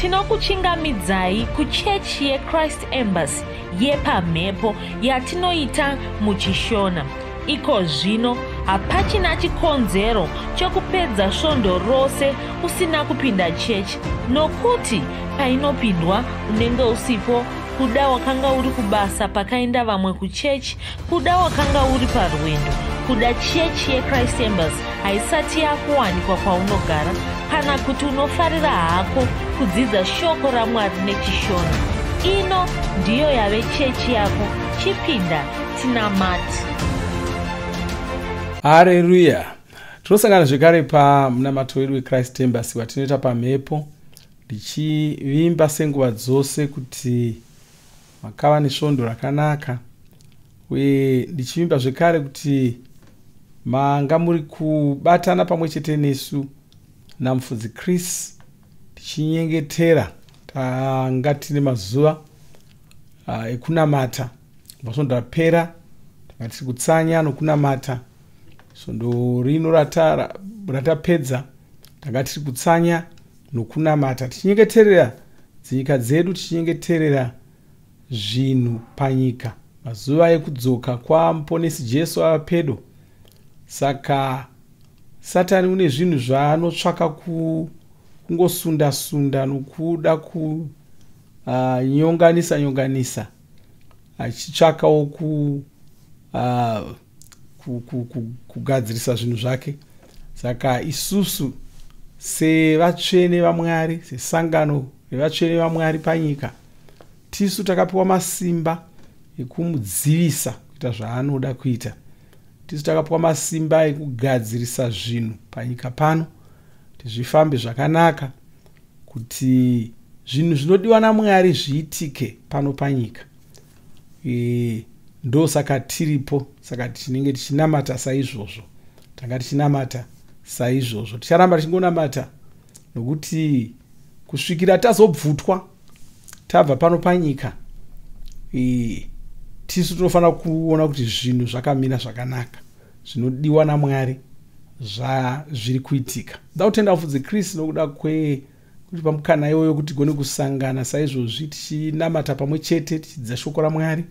Tinokuchingamidzai kuchechi yeChrist Embassy yepamhepo yatinoita muChishona. Iko zvino hapachina chikonzero chokupedza svondo rose usina kupinda chechi nokuti painopindwa unenge usipo kuda wakanga uri kubasa pakaenda vamwe kuchechi Kuda wakanga uri parwendo kuda chechi yechrist embers haisati yakuwanikwa kwaunogara kana kuti unofarira hako kudzidza shoko ramwari nechishona ino ndiyo yave chechi yako chipinda tinamati hareruya tinosangana zvekare pamunamato wedu wechrist embers watinoita pamhepo ndichivimba senguva dzose kuti makava nesvondo rakanaka uye ndichivimba zvekare kuti manga muri kubatana pamwe chete nesu namufudzi chris tichinyengetera tanga tine mazuva ah, ekunamata masvondo apera tanga tiri kutsanya nokunamata svondo rino ratapedza tanga tiri kutsanya nokunamata tichinyengeterera dzinyika dzedu tichinyengeterera zvinhu panyika mazuva ekudzoka kwamuponesi jesu ava pedo saka satani une zvinhu zvaanotsvaka kungosunda sunda nokuda kunyonganisa ah, nyonganisa achitsvakawo ku uh, kugadzirisa zvinhu zvake saka isusu sevatsvene vamwari sesangano revatsvene vamwari panyika tisu takapiwa masimba ekumudzivisa kuita zvaanoda kuita tisu takapiwa masimba ekugadzirisa zvinhu panyika pano kuti zvifambe zvakanaka kuti zvinhu zvinodiwa namwari zviitike pano panyika e, ndosaka tiripo saka tinenge tichinamata saizvozvo tanga tichinamata saizvozvo ticharamba tichingonamata nokuti kusvikira tazobvutwa tabva pano panyika e, tisu tinofanira kuona kuti zvinhu zvakamira zvakanaka zvinodiwa namwari zvazviri kuitika ndautenda vafudzi chris nokuda kwe kuti pamukana iwoyo kuti gone kusangana saizvozvi tichinamata pamwe chete tichidzidza shoko ramwari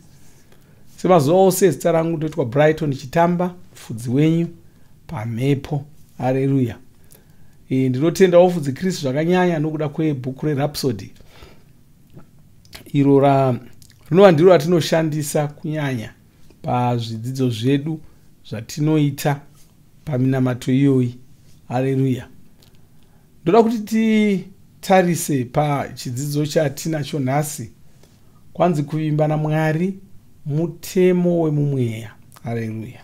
semazuva ose zita rangu ndoitwa brighton chitamba fudzi wenyu pamhepo hareruya e, ndinotenda wofudzi kristu zvakanyanya nokuda kwebhuku rerapsody iro rinova ndiro ratinoshandisa kunyanya pazvidzidzo zvedu zvatinoita paminamato iyoyi hareruya ndoda kuti titarise pachidzidzo chatinacho nhasi kwanzi kuvimba namwari mutemo wemumweya hareruya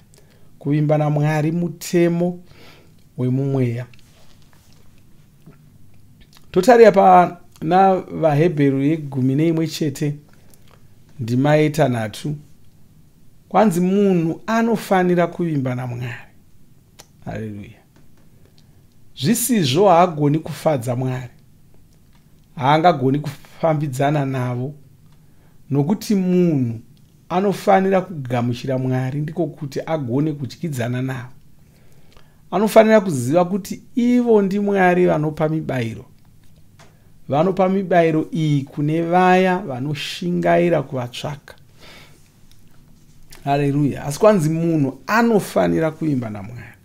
kuvimba namwari mutemo wemumweya totarira pana vahebheru yegumi neimwe chete ndima yetanhatu kwanzi munhu anofanira kuvimba namwari haleluya zvisizvo haagoni kufadza mwari haangagoni kufambidzana navo nokuti munhu anofanira kugamuchira mwari ndiko kuti agone kudyidzana navo anofanira kuziva kuti ivo ndimwari vanopa mibayiro vanopa mibayiro iyi kune vaya vanoshingaira kuvatsvaka hareruya asi kwanzi munhu anofanira kuimba namwari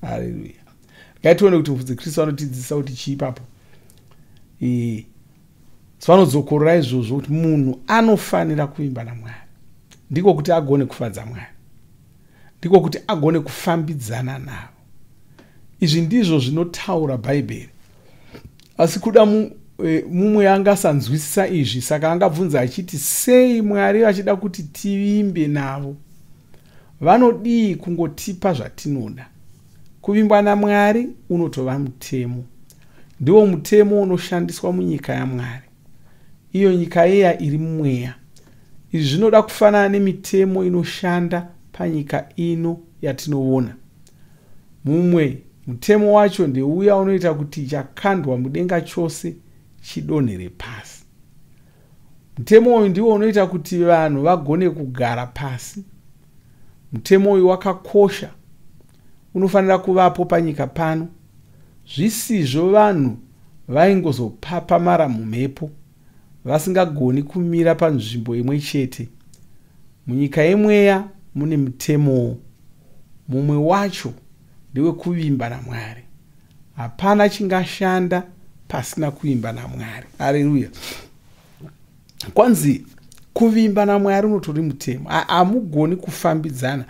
hareruya regai tione kuti mufudzi kristu vanotidzidzisa kuti chii papo e, so vanodzokorora izvozvo kuti munhu anofanira kuimba namwari ndiko kuti agone kufadza mwari ndiko kuti agone kufambidzana navo izvi ndizvo zvinotaura bhaibheri asi kuda e, mumwe e, anga asanzwisisa izvi saka angabvunza achiti sei mwari vachida kuti tivimbe navo vanodii kungotipa zvatinoda kuvimbwa namwari unotova mutemo ndiwo mutemo unoshandiswa munyika yamwari iyo nyika iya iri mumweya. Izvi zvinoda kufanana nemitemo inoshanda panyika ino yatinoona. Mumwe mutemo wacho ndeuya unoita kuti chakandwa mudenga chose chidonhere pasi. Mutemo uyu ndiwo unoita kuti vanhu vagone kugara pasi. Mutemo uyu wakakosha unofanira kuvapo panyika pano. Zvisizvo vanhu vaingozopapamara mumhepo vasingagoni kumira panzvimbo imwe chete. Munyika yemweya mune mutemowo. Mumwe wacho ndewekuvimba naMwari. Hapana chingashanda pasina kuvimba naMwari. Areruya! kwanzi kuvimba namwari unotori mutemo hamugoni kufambidzana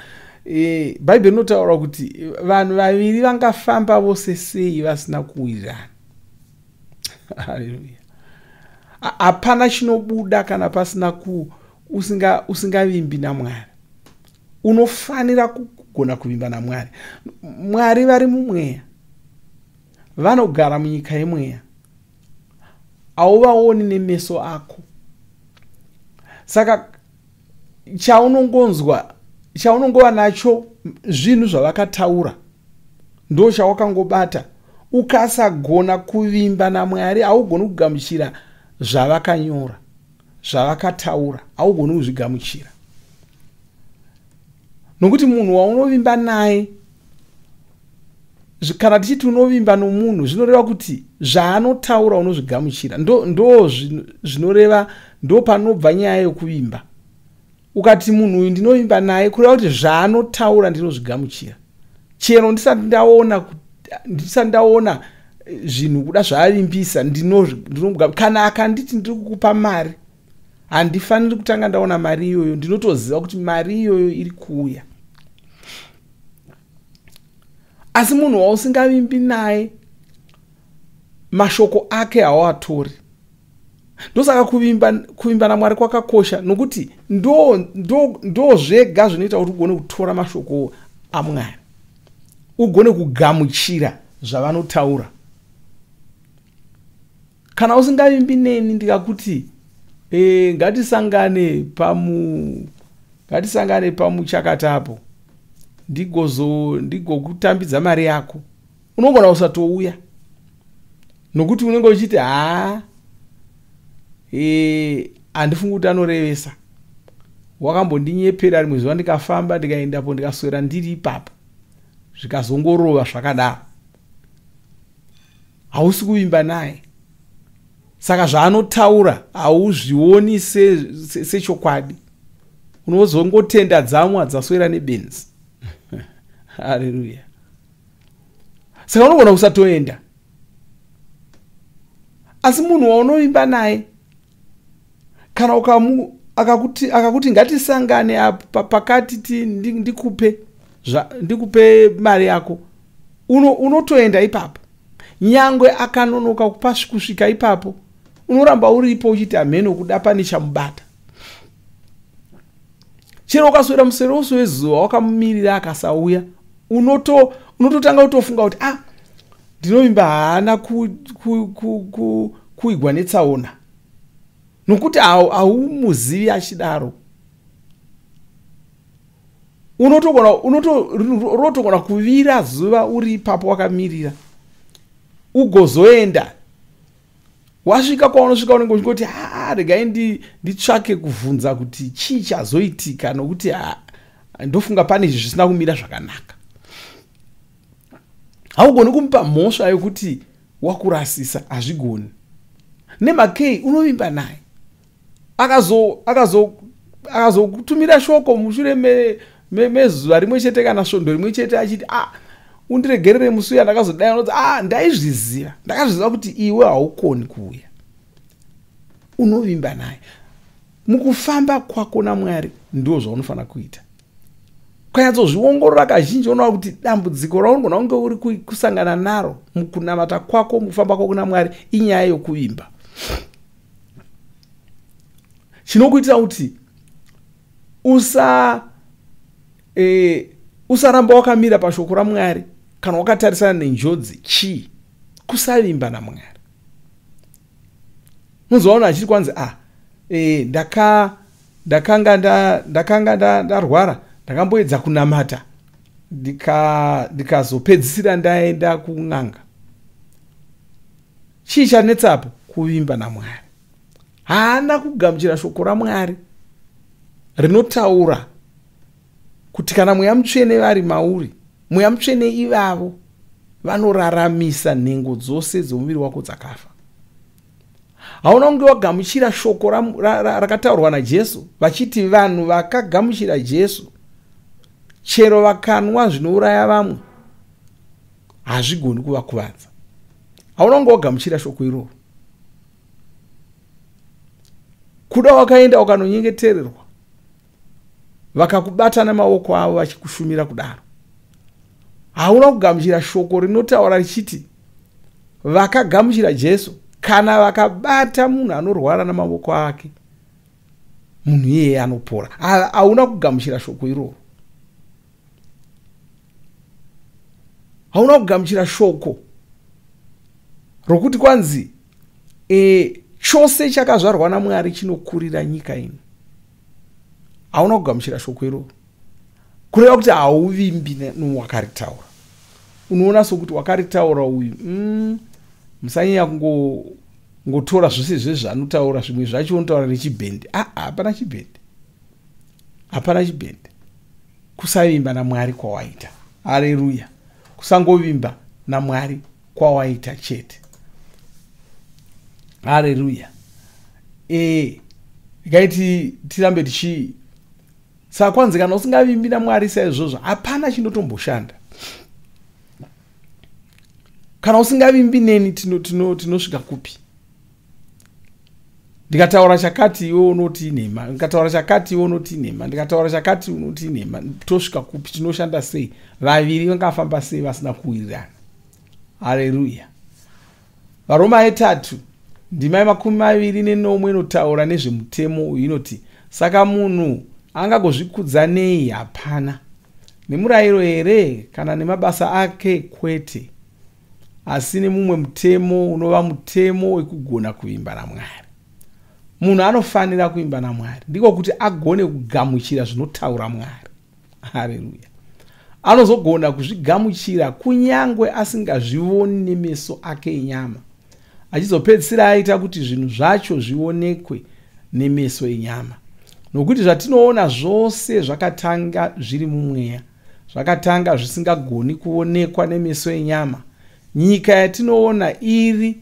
e, bhaibheri rinotaura kuti vanhu vaviri vangafamba vose sei vasina kuwirirana haleluya hapana chinobuda kana pasina ku usinga usingavimbi namwari unofanira kugona kuvimba namwari mwari vari mumweya vanogara munyika yemweya hauvaoni nemeso ako saka chaunongonzwa chaunongova nacho zvinhu zvavakataura ndo chawakangobata ukasagona kuvimba namwari haugoni kugamuchira zvavakanyora zvavakataura haugoni kuzvigamuchira nokuti munhu waunovimba naye kana tichiti unovimba nomunhu zvinoreva kuti zvaanotaura unozvigamuchira ndo, ndo zvinoreva ndo panobva nyaya yokuvimba ukati munhu uyu ndinovimba naye kureva kuti zvaanotaura ndinozvigamuchira chero ndisati ndaona ndisati ndaona eh, zvinhu kuda zvaavimbisa ndinomuga kana akanditi ndiri kukupa mari handifaniri kutanga ndaona mari iyoyo ndinotoziva kuti mari iyoyo iri kuuya asi munhu wausingavimbi naye mashoko ake hawatori ndosaka kuvimba kuvimba namwari kwakakosha nokuti ndo ndo ndo zvega zvinoita kuti ugone kutora mashoko amwari ugone kugamuchira zvavanotaura kana usingavimbi neni ndikakuti e, ngatisangane pamu ngatisangane pamuchakatapo ndigozo ndigokutambidza mari yako unogona kusatouya nokuti unenge uchiti haa eh, handifungi kuti anorevesa wakambondinyepera rimwe zuva ndikafamba ndikaendapo ndikaswera ndiri ipapo zvikazongorova zvakadaro hausi kuvimba naye saka zvaanotaura hauzvioni sechokwadi se, se unozongotenda dzamwa dzaswera nebenzi haleluya saka unogona kusatoenda asi munhu waunovimba naye kana ukamu akakuti akakuti ngatisangane apa pakati ti ndikupe zva ndikupe mari yako uno unotoenda ipapo nyangwe akanonoka kupa kusvika ipapo unoramba uripo uchiti hameno kuda pane chamubata chero ukaswera musero wose wezuva wakamumirira akasauya unototanga unoto kutofunga kuti ah ndinovimba haana kuigwa netsaona nokuti haumuzivi achidaro unotogona kuvira zuva uri ipapo wakamirira ugozoenda wasvika kwaunosvika unenge uchingoti haa regai nditsvake ndi kuvhunza kuti chii chazoitika nokuti ha ndofunga pane izvi zvisina kumira zvakanaka haugoni kumupa mhosva yokuti wakurasisa hazvigoni nemakei unovimba naye akazokutumira shoko mushure mezuva rimwe chete kana svondo rimwe chete achiti a ah, undiregerere musi uya ndakazodai unoti a ah, ndaizviziva ndakazviziva kuti iwe haukoni kuuya unovimba naye mukufamba kwako namwari ndo zvaunofanira kuita ukanyatsozviongorora kazhinji unoa kuti dambudziko raunogona kunge uri kusangana naro mukunamata kwako mukufamba kwako namwari inyaya yokuvimba chinokuitira kuti usa e, usaramba wakamira pashoko ramwari kana wakatarisana nenjodzi chii kusavimba namwari muzoona achiri kwanzi a ah, e, ndaka ndakanga ndakanga nda, ndarwara ndakamboedza kunamata ndikazopedzisira ndaenda kun'anga chii chanetsa apo kuvimba namwari haana kugamuchira shoko ramwari rinotaura kuti kana mweya mutsvene vari mauri mweya mutsvene ivavo vanoraramisa nhengo dzose dzomuviri wako dzakafa hauna kunge wagamuchira shoko rakataurwa najesu vachiti vanhu vakagamuchira jesu chero vakanwa zvinouraya vamwe hazvigoni kuvakuvadza hauna kunge wagamuchira shoko iroro kuda wakaenda wakanonyengetererwa vakakubata nemaoko avo vachikushumira kudaro hauna kugamuchira shoko rinotaura richiti vakagamuchira jesu kana vakabata munhu anorwara namaoko ake munhu iyeye anopora hauna kugamuchira shoko iroro hauna kugamuchira shoko rokuti kwanzi e, chose chakazvarwa namwari chinokurira nyika ino hauna kugamuchira shoko iroro kureva kuti hauvimbi newakaritaura unoona sokuti wakaritaura uyu mm, musanyanya kungotora zvese zvezvanotaura zvimwe zvacho unotaura nechibhendi aa ah, hapana chibhendi hapana chibhendi kusavimba namwari kwawaita hareruya kusangovimba namwari kwawaita chete hareruya ee ikai tirambe tichi saka kwanzi kana usingavimbi namwari saizvozvo hapana chinotomboshanda kana usingavimbi neni tinosvika tino, tino kupi ndikataura chakati iwe unoti inhema ndikataura chakati iwe unoti inhema ndikataura chakati unoti inhema tosvika kupi tinoshanda sei vaviri vangafamba sei vasina kuwirirana hareruya varoma yetatu ndima yemakumi maviri nenomwe inotaura nezvemutemo uyu inoti saka munhu angagozvikudza nei hapana nemurayiro here kana nemabasa ake kwete asi nemumwe mutemo unova mutemo wekugona kuvimba namwari munhu anofanira kuvimba namwari ndiko kuti agone kugamuchira zvinotaura mwari hareruya anozogona kuzvigamuchira kunyange asingazvivoni nemeso ake enyama achizopedzisira aita kuti zvinhu zvacho zvionekwe nemeso enyama nokuti zvatinoona zvose zvakatanga zviri mumweya zvakatanga zvisingagoni kuonekwa nemeso enyama nyika yatinoona iri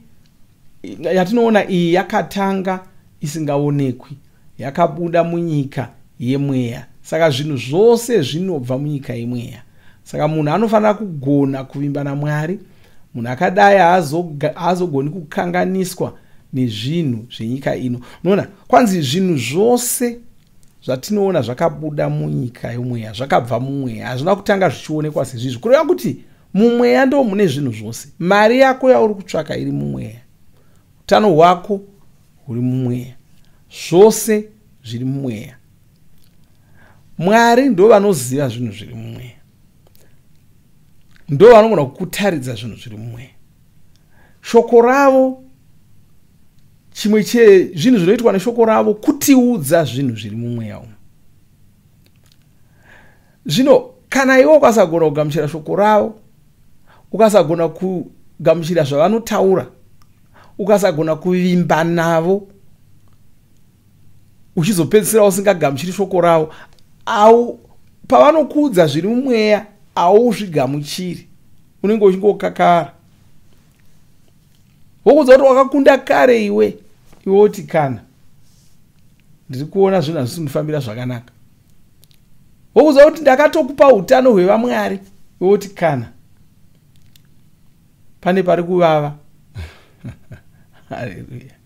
yatinoona iyi yakatanga isingaonekwi yakabuda munyika yemweya saka zvinhu zvose zvinobva munyika yemweya saka munhu anofanira kugona kuvimba namwari munhu akadai haazogoni kukanganiswa nezvinhu zvenyika ino unoona kwanzi zvinhu zvose zvatinoona zvakabuda munyika yomweya zvakabva mumweya hazvina kutanga zvichionekwa sezvizvi kureva kuti mumweya ndo mune zvinhu zvose mari yako yauri kutsvaka iri mumweya utano hwako huri mumweya zvose zviri mumweya mwari ndo vanoziva zvinhu zviri mumweya ndo vanogona kukutaridza zvinhu zviri mumweya shoko ravo chimwe chezvinhu zvinoitwa neshoko ravo kutiudza zvinhu zviri mumweya umu zvino kana iwe ukasagona kugamuchira shoko ravo ukasagona kugamuchira zvavanotaura ukasagona kuvimba navo uchizopedzisira usingagamuchiri shoko ravo au pavanokuudza zviri mumweya auzvigamuchiri unenge uchingokakara wokuudza kuti wakakunda kare iwe iwe woti kana ndiri kuona zvinhu hazvisi kundifambira zvakanaka wokuudza kuti ndakatokupa utano hwevamwari iwe woti kana pane pari kuvava haleluya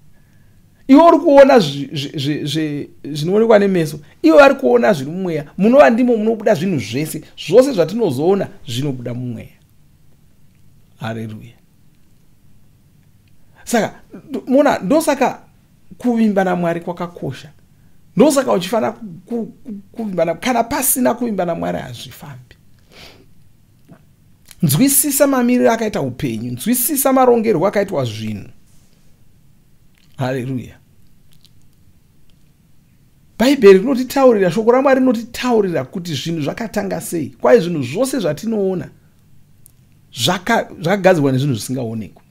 iwe uri kuona zvinoonekwa nemeso iwe vari kuona zviri mumweya munova ndimo munobuda zvinhu zvese zvose zvatinozoona zvinobuda mumweya hareruya saka mona ndosaka kuvimba namwari kwakakosha ndosaka uchifanira kuvimba kana pasina kuvimba namwari hazvifambi nzwisisa mamiriro akaita upenyu nzwisisa marongerwo akaitwa zvinhu haleluya bhaibheri rinotitaurira shoko ramwari rinotitaurira kuti zvinhu zvakatanga sei kwai zvinhu zvose zvatinoona zvakagadzirwa nezvinhu zvisingaonekwi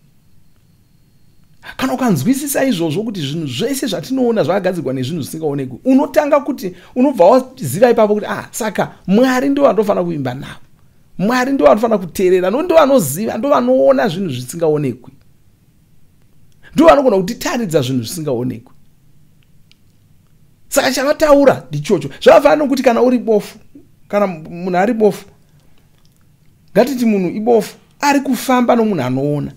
kana ukanzwisisa izvozvo kuti zvinhu zvese zvatinoona zvakagadzirwa nezvinhu zvisingaonekwi unotanga kuti unobva waziva ipapo kuti ah saka mwari ndo vandofanira kuimba navo mwari ndo vanofanira kuteerera no ndo vanoziva ndo vanoona zvinhu zvisingaonekwi ndo vanogona kutitaridza zvinhu zvisingaonekwi saka chavataura ndichocho zvavafanira nokuti kana uri bofu kana munhu ari bofu ngatiti munhu ibofu ari kufamba nomunhu anoona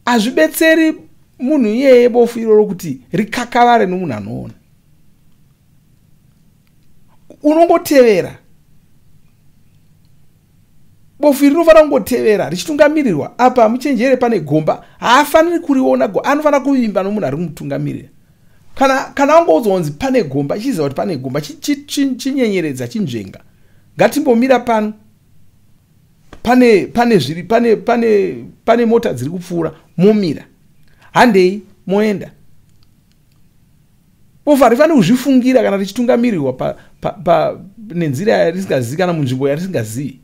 hazvibetseri munhu iyeye bofu iroro kuti rikakavare nomunhu anoona unongotevera bofu iri rinofanira kungotevera richitungamirirwa apa muchenjere pane gomba haafaniri kuriona go anofanira kuvimba nomunhu ari kumutungamirira kana kana wangoudzwa kunzi pane gomba chiziva kuti pane gomba chinyenyeredza chinzvenga ngatimbomira pano pane pane zviri pane pane pane mota dziri kupfuura momira handei moenda bofa rifane kuzvifungira kana richitungamirirwa nenzira yarisingazivi kana munzvimbo yarisingazivi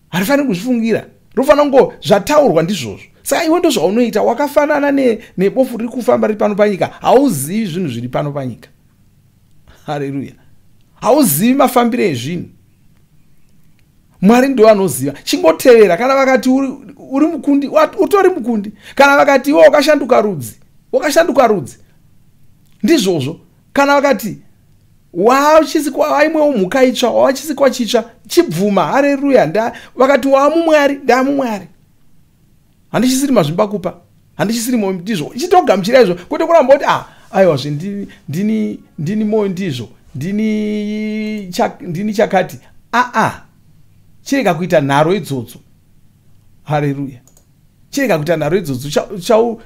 harifaniri kuzvifungira rufanira kungo zvataurwa ndizvozvo saka iwe ndozvaunoita wakafanana nebofu riri kufamba riri pano panyika hauzivi zvinhu zviri pano panyika hareruya hauzivi mafambiro ezvinhu mwari ndiwo anoziva chingotevera kana vakati uri mukundi utori mukundi kana vakati iwe wakashanduka rudzi wakashanduka rudzi ndizvozvo kana vakati wauchisikwa waimwewo mhuka itsva wawachisikwa chitsva chibvuma hareruya nda vakati waamumwari ndaamumwari handichisiri mazvimba kupa handichisiri moyo ndizvo chitogamuchira izvo kwete kuramba kuti ah aiwa zve ndini ndini ndini moyo ndizvo ndini chak, ndini chakati aa ah, ah. chirega kuita nharo idzodzo hareruya chirega kuita nharo idzodzo chau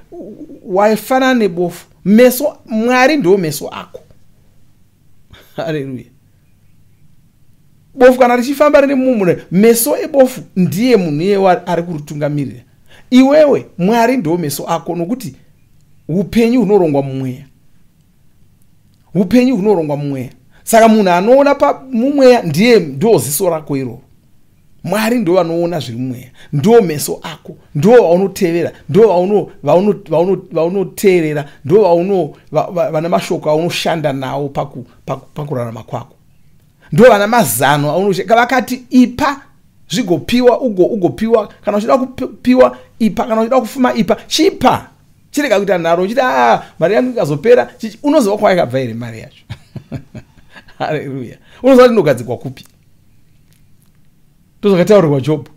waifanana nebofu meso mwari ndiwo meso ako haleluya bofu kana richifamba rine mumune meso ebofu ndiye munhu iyewo ari kuritungamirira iwewe mwari ndiwo meso ako nokuti upenyu hunorongwa mumweya upenyu hunorongwa mumweya saka munhu anoona pamumweya ndiye ndo ziso rako iroro mwari ndo vanoona zviri mumweya ndo meso ako ndo vaunotevera ndo vaunoteerera ndo vana mashoko aunoshanda nawo pakurarama kwako ndo vana mazano aunoshaka vakati ipa zvigopiwa ugopiwa kana uchida kupiwa ipa kana uchida kufuma ipa chipa chirega kuita nharo uchiti a ah, mari yangu ikazopera chichi unoziva kwayakabva here mari yacho hareruya unoziva kuti ndogadzikwa kupi ndozvakataurirwa jobho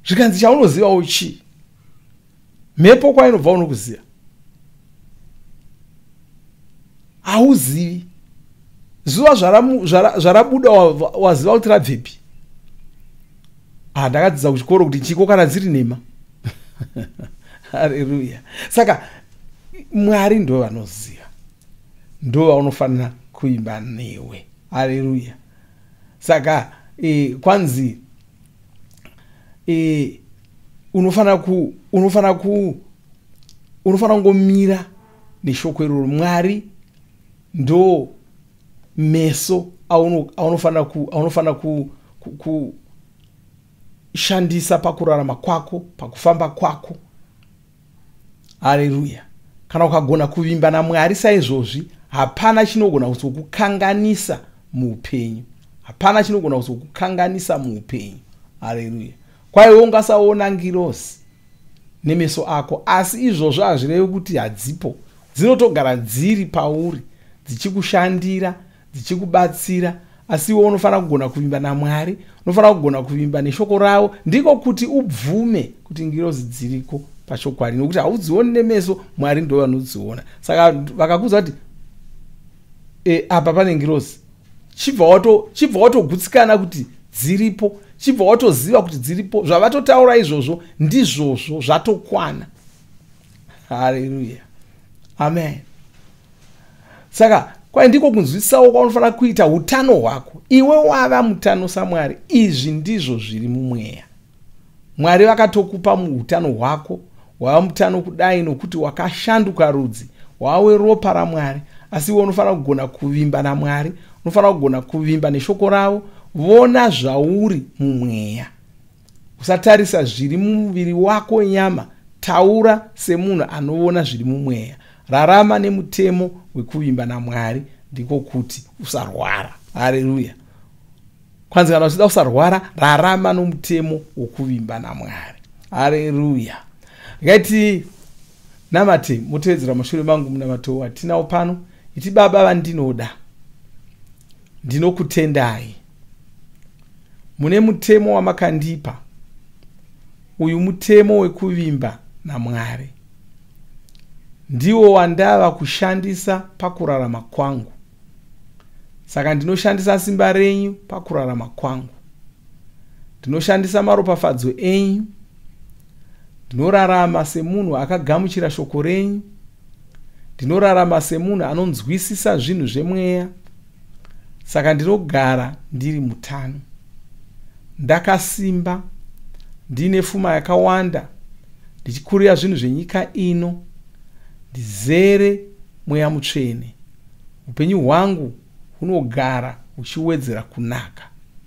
zvikanzi chaunozivawo chii mhepo kwainobva unokuziva hauzivi zuva zvarabuda waziva kuti rabvepi ah, ndakadzidza kuchikoro kuti chiko kana dziri nhema hareruya saka mwari ndo vanoziva ndo vaunofanira kuimba newe hareruya saka e, kwanzi e, unofanira ku unofanira ku unofanira kungomira neshoko iroro mwari ndo meso aunofanira aunofanira ku, ku, ku shandisa pakurarama kwako pakufamba kwako hareruya kana ukagona kuvimba namwari saizvozvi hapana chinogona kuzokukanganisa muupenyu hapana chinogona kuzokukanganisa muupenyu hareruya kwaiwe ungasaona ngirosi nemeso ako asi izvozvo hazvirevi kuti hadzipo dzinotogara dziri pauri dzichikushandira dzichikubatsira asi iwe unofanira kugona kuvimba namwari unofanira kugona kuvimba neshoko ravo ndiko kuti ubvume kuti ngirozi dziriko pachokwadi nokuti haudzioni nemeso mwari ndo vanodziona saka vakakuudza kuti e, apa pane ngirozi chibva wato chibva watogutsikana kuti dziripo chibva watoziva kuti dziripo zvavatotaura izvozvo ndizvozvo zvatokwana haleluya amen saka kwai ndiko kunzwisisawo kwaunofanira kuita utano hwako iwe wava mutano samwari izvi ndizvo zviri mumweya mwari vakatokupa muutano hwako wava mutano kudai nokuti wakashanduka rudzi wawe ropa ramwari asi iwe unofanira kugona kuvimba namwari unofanira kugona kuvimba neshoko ravo vona zvauri mumweya usatarisa zviri mumuviri wako nyama taura semunhu anoona zviri mumweya rarama nemutemo wekuvimba namwari ndiko kuti usarwara hareruya kwanzi kana uchida kusarwara rarama nomutemo wokuvimba namwari hareruya ngaiti namate motevedzera mashure mangu munamato watinawo pano iti baba vandinoda ndinokutendai mune mutemo wamakandipa uyu mutemo wekuvimba namwari ndiwo wandava kushandisa pakurarama kwangu saka ndinoshandisa simba renyu pakurarama kwangu ndinoshandisa maropafadzo enyu ndinorarama semunhu akagamuchira shoko renyu ndinorarama semunhu anonzwisisa zvinhu zvemweya saka ndinogara ndiri mutano ndakasimba ndiine fuma yakawanda ndichikurira zvinhu zvenyika ino ndizere mweya mutsvene upenyu hwangu hunogara huchiwedzera kunaka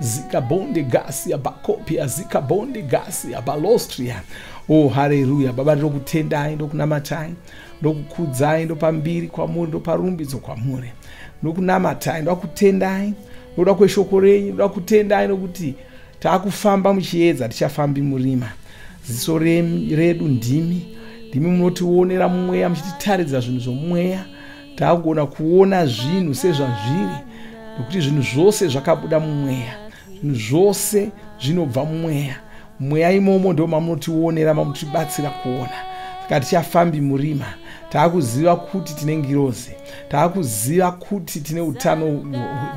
zikabonde gasi abakopia zikabonde gasi abalostria o oh, hareruya baba ndinokutendai ndokunamatai ndokukudzai ndopambiri kwamuri ndoparumbidzo kwamuri ndokunamatai ndoda kutendai ndoda kweshoko renyu ndoda kutendai nokuti taakufamba muchiedza tichafambi murima ziso redu ndimi ndimi munotionera mumweya muchititaridza zvinhu zvomweya taagona kuona zvinhu sezvazviri nokuti zvinhu zvose zvakabuda mumweya zvinhu zvose zvinobva mumweya mweya imomo ndo mamunotionera mamutibatsira kuona saka tichafambi murima taakuziva kuti tine ngirozi taakuziva kuti tine utano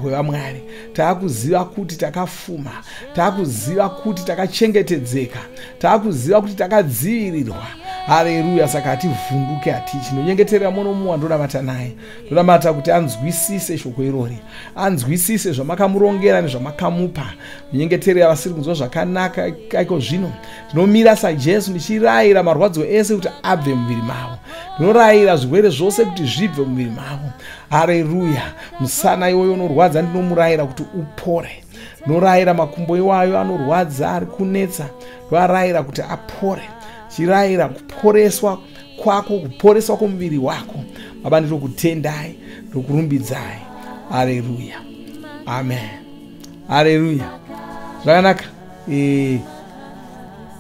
hwevamwari taakuziva kuti takafuma taakuziva kuti takachengetedzeka takuziva kuti takadzivirirwa hareruya saka hativhunduke hatii chinonyengeterera mono mumwe wandonamata naye ndonamata kuti anzwisise shoko irori anzwisise zvamakamurongera nezvamakamupa munyengeterera vasiri kunzwa zvakanaka iko zvino ndinomira sajesu ndichirayira marwadziwo ese kuti abve muviri mavo ndinorayira zvirwere zvose kuti zvibve muviri mavo hareruya musana iwoyo unorwadza ndinomurayira kuti upore norayira makumbo iwayo anorwadza ari kunetsa ndoarayira kuti apore chirayira kuporeswa kwako kuporeswa kwomuviri wako baba ndinokutendai ndokurumbidzai aleluya amen aleluya zvakanaka e,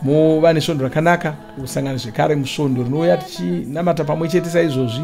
mova nesvondo rakanaka kusangana zvekare musvondo rinouya tichinamata pamwe chete saizvozvi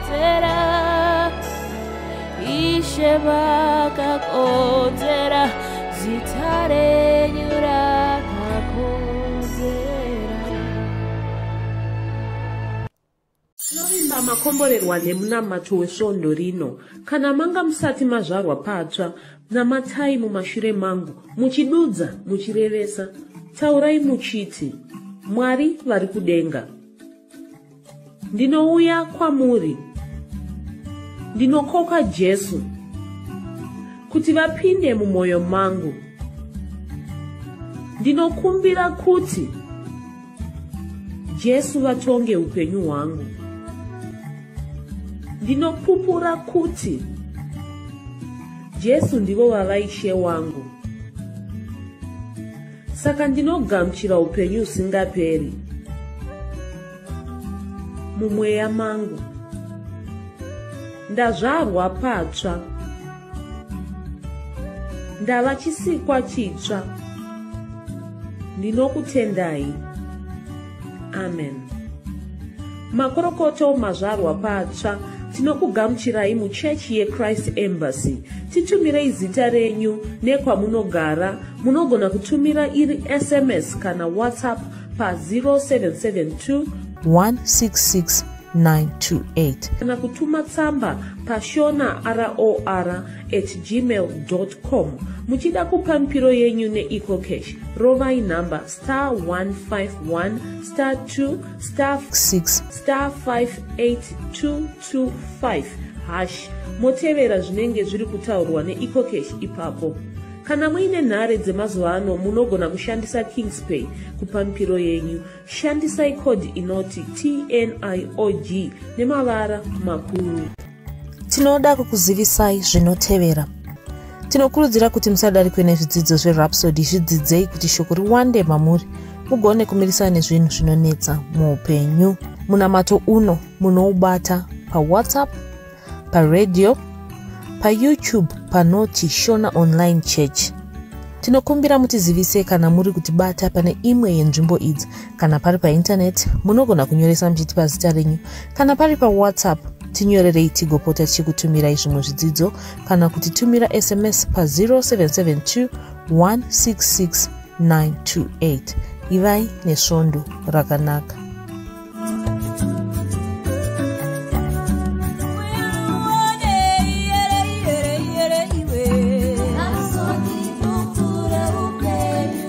Ishe vakakodzera zita renyu rakakodzera tinovimba makomborerwa nemunamato wesvondo rino kana manga musati mazvarwa patsva namatai mumashure mangu muchidudza muchirevesa taurai muchiti mwari vari kudenga ndinouya kwamuri ndinokoka jesu kuti vapinde mumwoyo mangu ndinokumbira kuti jesu vatonge upenyu hwangu ndinopupura kuti jesu ndivo vavaishe wangu saka ndinogamuchira upenyu husingaperi mumweya mangu ndazvarwa patsva ndava chisikwa chitsva ndinokutendai amen makorokoto mazvarwa patsva tinokugamuchirai muchechi yechrist embassy titumirei zita renyu nekwamunogara munogona kutumira iri sms kana whatsapp pa0772 166 928 kana kutuma tsamba pashona ror at gmail com muchida kupa mupiro yenyu neecocash rovai nhamba star 151 star 2 star 6 star 58225 hash motevera zvinenge zviri kutaurwa neecocash ipapo kana muine nhare dzemazuva ano munogona kushandisa kingspay kupamipiro yenyu shandisai code inoti tniog nemavara makuru tinoda kukuzivisai zvinotevera tinokurudzira kuti musadarikwe nezvidzidzo zverapsody zvidzidzei kuti shoko riwande mamuri mugone kumirisana nezvinhu zvinonetsa muupenyu munamato uno munoubata pawhatsapp paradio payoutube panoti shona online church tinokumbira mutizivise kana muri kutibata pane imwe yenzvimbo idzi kana pari paintaneti munogona kunyoresa muchitipa zita renyu kana pari pawhatsapp tinyorerei tigopota tichikutumirai zvimwe zvidzidzo kana kuti tumira sms pa 0772 166 928 ivai nesvondo rakanaka